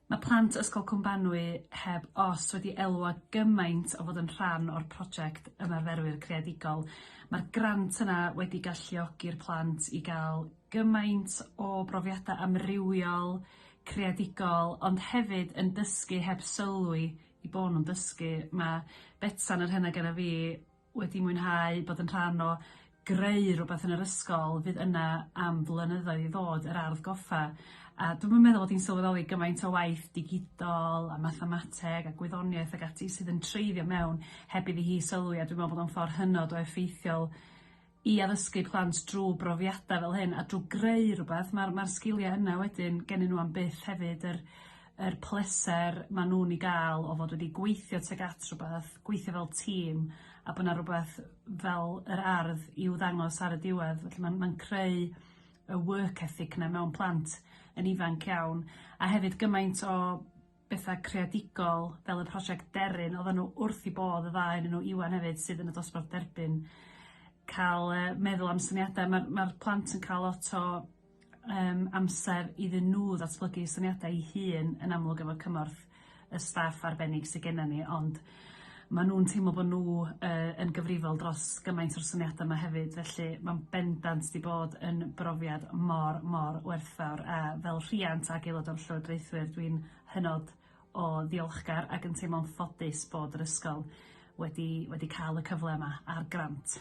Mae plant Ysgol Cwm Banwy heb os wedi elwa gymaint o fod yn rhan o'r project Ymarferwyr Creadigol. Mae'r grant yna wedi galluogi'r plant i gael gymaint o brofiadau amrywiol, creadigol, ond hefyd yn dysgu heb sylwi eu bod nhw'n dysgu. Mae Betsan, yr hyn oedd genna fi, wedi mwynhau bod yn rhan o greu rhywbeth yn yr ysgol fydd yna am flynyddoedd i ddod yr ardd goffa a dwi'm yn meddwl bod hi'n sylweddoli gymaint o waith digidol a mathemateg a gwyddoniaeth ag ati sydd yn treiddio mewn heb iddi hi sylwi a dwi me'wl bod o'n ffor hynod o effeithiol i addysgu plant drw brofiada' fel hyn a drw greu rwbath ma'r ma'r sgilia yna wedyn gennyn n'w am byth hefyd yr yr pleser ma' nw'n 'i ga'l o fod wedi gweithio tuag at rwbath gweithio fel tîm a bo' 'na rwbath fel yr ardd i'w ddangos ar y diwedd felly ma'n ma'n creu y work ethic 'na mewn plant yn ifanc iawn a hefyd gymaint o betha' creadigol fel y prosiect Deryn oddan nhw wrth 'u bodd y ddau o'nyn nhw Iwan hefyd sydd yn y dosbarth derbyn ca'l yy meddwl am syniada ma'r ma'r plant yn ca'l lot o yym amser iddyn nhw ddatblygu syniadau 'u hun yn amlwg efo cymorth y staff arbennig sy gennan ni ond ma' nw'n teimlo bo' nhw yy yn gyfrifol dros gymaint o'r syniada 'ma hefyd felly ma'n bendant 'di bod yn brofiad mor mor werthfawr a fel rhiant ag aelod o'r llywodraethwyr dwi'n hynod o ddiolchgar ac yn teimlo'n ffodus bod yr ysgol wedi wedi ca'l y cyfle yma a'r grant.